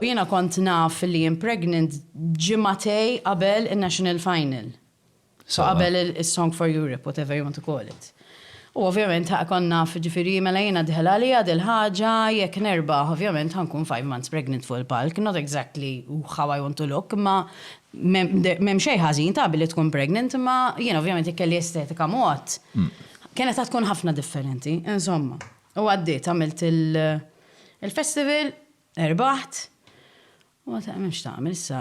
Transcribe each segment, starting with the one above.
Jiena kont naf li jien pregnant ġimgħatej qabel in-national final. So qabel is-Song for Europe, whatever you want to call it. U ovvjament ħaq kont naf ġifieri mela jiena dħel għaliha dil-ħaġa jekk nerbaħ ovvjament ħa nkun five months pregnant fuq il-palk, not exactly how I want to look imma m'hemm xejn ħażin ta' billi tkun pregnant imma jiena ovvjament jekk kelli estetika mod kienet ħa tkun ħafna differenti. Insomma. U għaddiet, għamilt il-festival, irbaħt, u għad għamil x'tagħmel issa,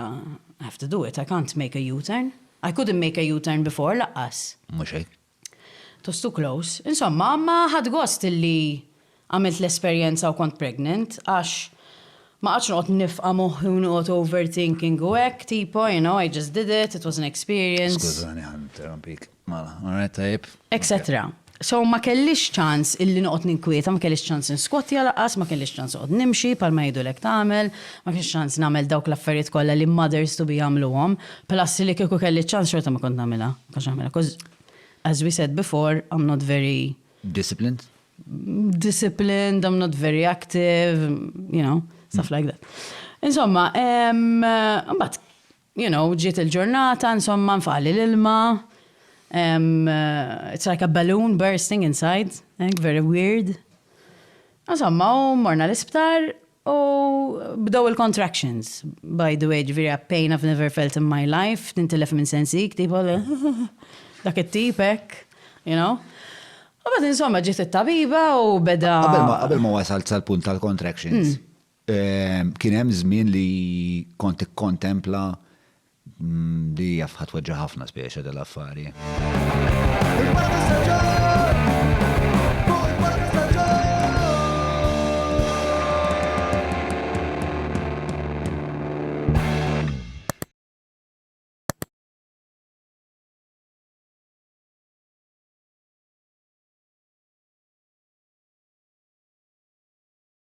I have to do it, I can't make a U-turn. I couldn't make a U-turn before laqqas. Mhux hekk. It was too close. Insomma, imma ħadt gost illi għamilt l-esperjenza u kont pregnant għax ma qgħadtx noqgħod nifqa' moħħi u noqgħod overthinking u hekk tipo, you know, I just did it, it was an experience. Skużani ħa ninterrompik. Mela, alright tajjeb. Etc. So ma kellix ċans illi noqgħod ninkwieta, ma kellix ċans inskwattja lanqas, ma kellix ċans noqgħod nimxi bħalma jgħidulek tagħmel, ma kellix ċans nagħmel dawk l-affarijiet kollha li mothers to be jagħmluhom, plus li kieku kelli ċ-ċans xorta ma kont nagħmilha, ma kontx nagħmilha, 'cause as we said before, I am not very Disciplined? disciplined, I am not very active, you know, stuff like that. Insomma, em, mbagħad You know, ġiet il-ġurnata, insomma, nfaqli l-ilma, it's like a balloon bursting inside, hekk, very weird. Insomma, u morna l-isptar u bdew il-contractions. By the way, ġviri a pain I've never felt in my life, tintilef minn sensik, tipo, dak it-tip hekk, you know. U bad insomma ġiet it-tabiba u beda. Qabel ma wasalt sal-punt tal-contractions, Kien hemm żmien li kont ikkontempla li jaf ħa tweġġa' ħafna spiċċa dal-affari.